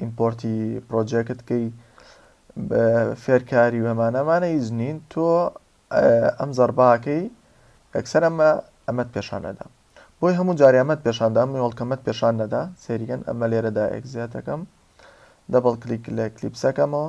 ئیمپۆرتی پڕۆجێکت کەی بە فێرکاری و ئەمانە ئەمانە هیچ نین تۆ ئەم زەرباکەی ئەکسەر ئەمە ئەمەت پێشان نەدا بۆی هەموو جاری ئەمەت پێشاندا ئەم هۆڵکەمەت پێشان نەدا سێریگەن ئەمە لێرەدا ئەگزیاتەکەم دەبڵ کلیک لە کلیپسەکەمەوە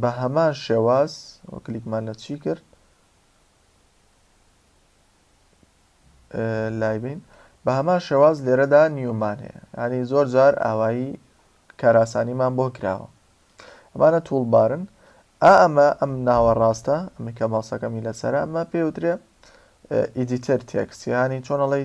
بە هەمان شێواز وە کلیکمان لە چی کرد لای بین بە هەمان شێواز لێرەدا نیومان هەیە ینی زۆر جار ئاوایی کاراسانیمان بۆ کراوە ئەمانە توڵبارن ئا ئەمە ئەم ناوە ڕاستە ئەمە کە ماسەکەمی لەسەر ئەمە پێوترێ ئیدیتەر تێکسیانی چۆنەڵی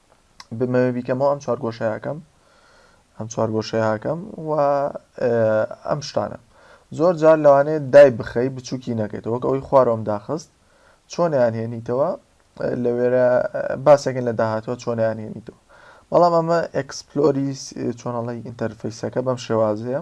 بمەوێ بیکەمەوە ئەم چوارگۆشەیەکەم ئەم چوارگۆشەیەکەم و ئەم شتانە زۆر جار لەوانەیە دای بخەی بچووکی نەکەیت وەک ئەوەی خوارۆم داخست چۆنیان هێنیتەوە لە وێرە باسێکن لە داهاتوە چۆنیان هێنیتەوە بەڵام ئەمە ئەکسپلۆری چۆنەڵی ئینتەرفیسەکە بەم شێوازەیە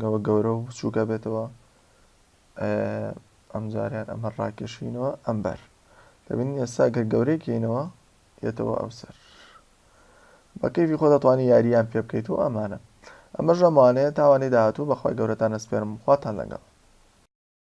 گەوە گەورەو بچوک ئەبێتەوە ئەم جاریان ئەمە ڕاکێشینەوە ئەم بەر دەبین ئێستا گەر گەورەی کەینەوە یەتەوە ئەو سەر بەکەیفی خۆ دەتوانانی یاریان پێ بکەیت و ئەمانە ئەمە ژەمانەیە تاوانەی داهاتوو بەخوای گەورەتان ئەسپێرم خواتان لەگەڵ